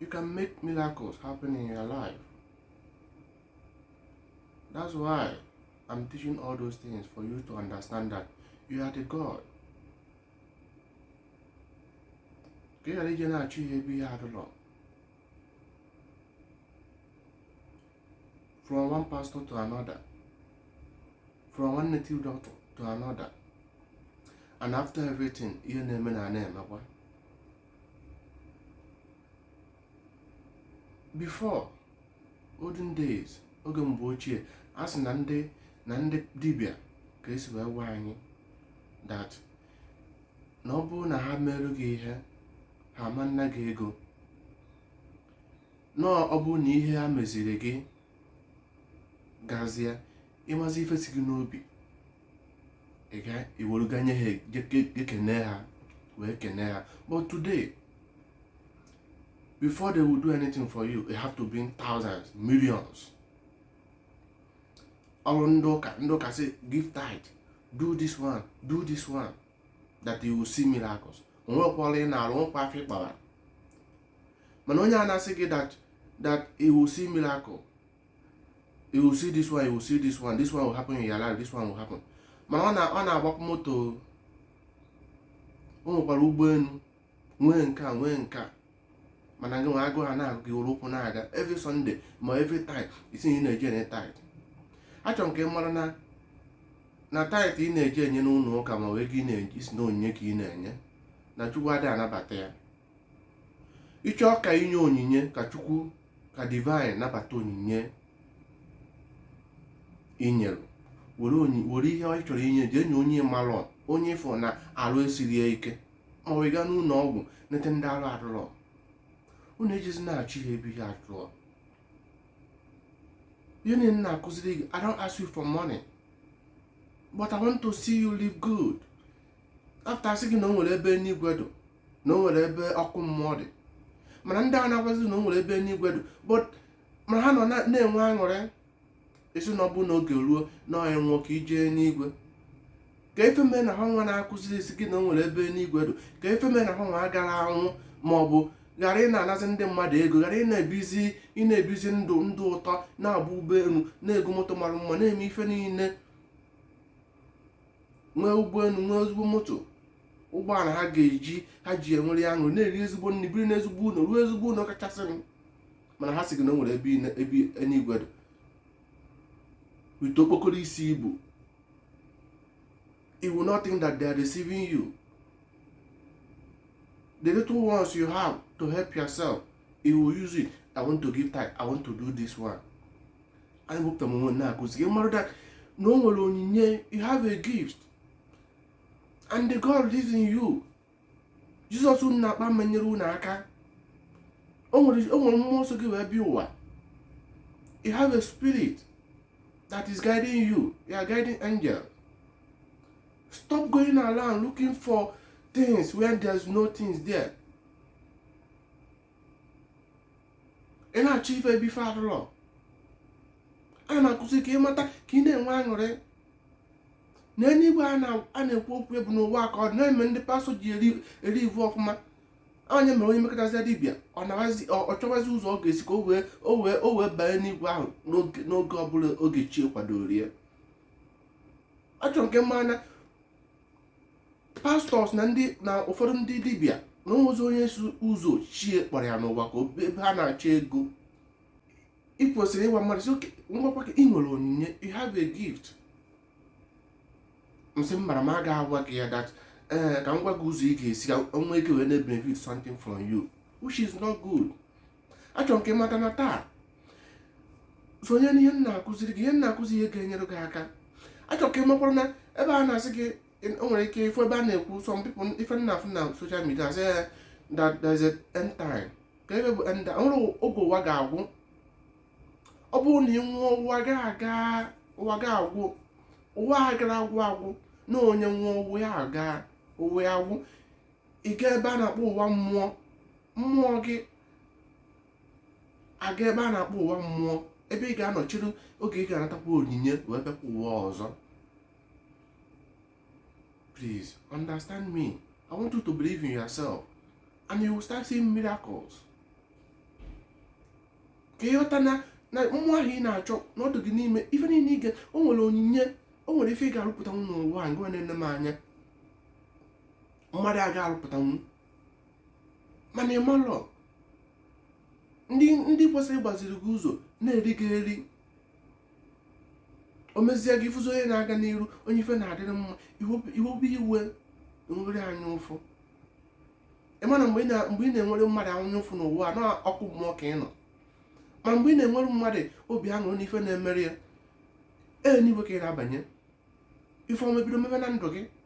you can make miracles happen in your life that's why i'm teaching all those things for you to understand that you are the god ka ị ghara ije na-achụ ihe ebe ihe adịlọ from one pastor to another from one native doctor to another and after everything ihe na-eme na na-emekwa before olden days oge mgbe ochie a sị na ndị na ndị dibịa ka esi wee gwa anyị that na ọ bụrụ na ha meelu gị ihe ha ama-ana gị ego na ọ bụrụ na ihe ha meziri gị gazie ị mazi ife si gị n'obi i were ga nye ha ekene ha wee kene ha but today before they will do anything for you you have to bring thousands millions ọrụ ndị ụka ndị ụka sị give tithe do this one do this one that you will see miracles onwekwala ị na-arụ nwekwa afọ ịkpara mana onye a na-asị gị that that you will see miracle you will see this one you will see this one this one will happen in your life this one will happen mana ọ na-agbakwa moto o nwekwara ụgbọelu nwee nke a nwee nke a mana gị nwa agụụ ana-agụ gị were ụkwụ na-aga every Sunday ma every time ị sị na ị na-eji enye tithe achọrọ m ka ị mara na na tithe ị na-eji enye n'ụlọ ụka ma wee gị na-eji sị na onyinye ka ị na-enye na Chukwu adịghị anabata ya ị chọọ ka i nye onyinye ka chukwu ka divine nabata onyinye i nyere were onyi were ihe ị chọrọ inye jee nye onye ị malọ onye ị fụ na arụ esirọ ya ike ma ọ gaa n'ụlọ ọgwụ nete ndị arụ adịrọ unu ejezina achụ ihe ebe ihe adịrọ ihe niile m na-akụziri gị I don't ask you for money but I want to see you live good after a sị gị na o nwere ebe enuigwe dụ na o nwere ebe ọkụ mmụọ dị mana ndị a na-agwazi na o nwere ebe enuigwe dị but mana ha nọ na-enwe aṅụrị a sị na ọ bụ n'oge ruo na onye nwụọ ka i jee enuigwe kee ife mee na ha nwa na-akụzi sị gị na o nwere ebe enuigwe dị kee ife mee na ha nwa agara anwụ ma ọ bụ ghara ị na-anazi ndị mmadụ ego ghara ị na-ebizi ị na-ebizi ndụ ndụ ụtọ na-agba ụgbọelu na-ego moto mara mma na-eme ife niile nwee ụgbọelu nwee ezigbo moto ụgbọala ha ga-eji ha ji enwere ya aṅụrị na-eri ezigbo nri biri n'ezigbo ụlọ rụọ ezigbo ụlọ kachasị mana ha sị gị na o nwere ebe ebe eluigwe dị with okpokoro isi ibu you will not think that they are deceiving you the little ones you have to help yourself you will use it i want to give time i want to do this one anyị wepụta m onwe na-akụzi gị mara that na o nwere onyinye you have a gift and the God lives in you Jizọs unu na-akpọ ama enyere unu aka o nwere mmụọ so gị wee bịa ụwa you have a spirit that is guiding you your guiding angel stop going around looking for things when there's no things there ị na-achọ ife ebe ife adụrọ a na-akụzi ka ị mata ka ị na-enwe aṅụrị na eluigwe a na-ekwu okwu ya bụ n'ụwa ka ọ na-eme ndị pastọ ji eri ivu ọfụma onye mere onye mekọtazi dibịa ọ chọwazi ụzọ ọ ga-esi ka o wee banye n'igwe ahụ n'oge ọbụla oge chi kwadoro ya achọrọ m ka ị mara na pastọs na ndị na ụfọdụ ndị dibịa na o nwezi onye si ụzọ chi ya kpọrọ ya n'ụwa aga ọ bụ ebe ha na-achọ ego ị kwesịrị ịgwa mmadụ sị ka m gwakwa gị i nwere onyinye you have a gift m sị m mara m aga agwa gị ya that ee eh, ka m gwa gị ụzọ ị ga-esi ka m nwee ike wee na-benefit something from you which is not good achọrọ m ka ị mata na taa sonye n'ihe m na-akụziri gị ihe m na-akụzi ihe ga-enyere gị aka achọrọ m ka ị makwara na ebe a na-asị gị i nwere ike ịfụ ebe a na-ekwu some people ife m na-afụ na social media a sị ya that there is a end time ka ebe bụ end time nwere oge ụwa ga-agwụ ọ bụrụ na ị nwụọ ụwa gị aga ụwa gị agwụ ụwa agarọ agwụ agwụ na onye nwụọ ụwa ya aga ụwa ya agwụ ị gaa ebe a na-akpọ ụwa mmụọ mmụọ gị aga ebe a na-akpọ ụwa mmụọ ebe ị ga-anọ chere oge ị ga-anatakwa onyinye wee bịakwa ụwa ọzọ please understand me i want you to believe in yourself and you will start seeing miracles ka ị ghọta na na mmụọ ahụ ị na-achọ na ọ dụ gị n'ime ife niile ị ga o nwere onyinye o nwere ife ị ga-arụpụtanwu n'ụwa a ngwa na-ene m anya mmadụ a ga-arụpụtanwu mana ị malọ ndị ndị kwesịrị ịgbaziri gị ụzọ na-eri gị eri o mezie gị ị fụzi onye na-aga n'iru onye ife na-adịrị mma i webe iwe i nwere anya ụfụ ị ma na mgbe ị na-enwere mmadụ anya ụfụ na ọ wụ n'ọkụ mmụọ ka ị nọ ma mgbe ị na-enwere mmadụ obi aṅụrị n'ife na-emere ya enuigwe ka ị na-abanye ife ọma ebido mebe na ndụ gị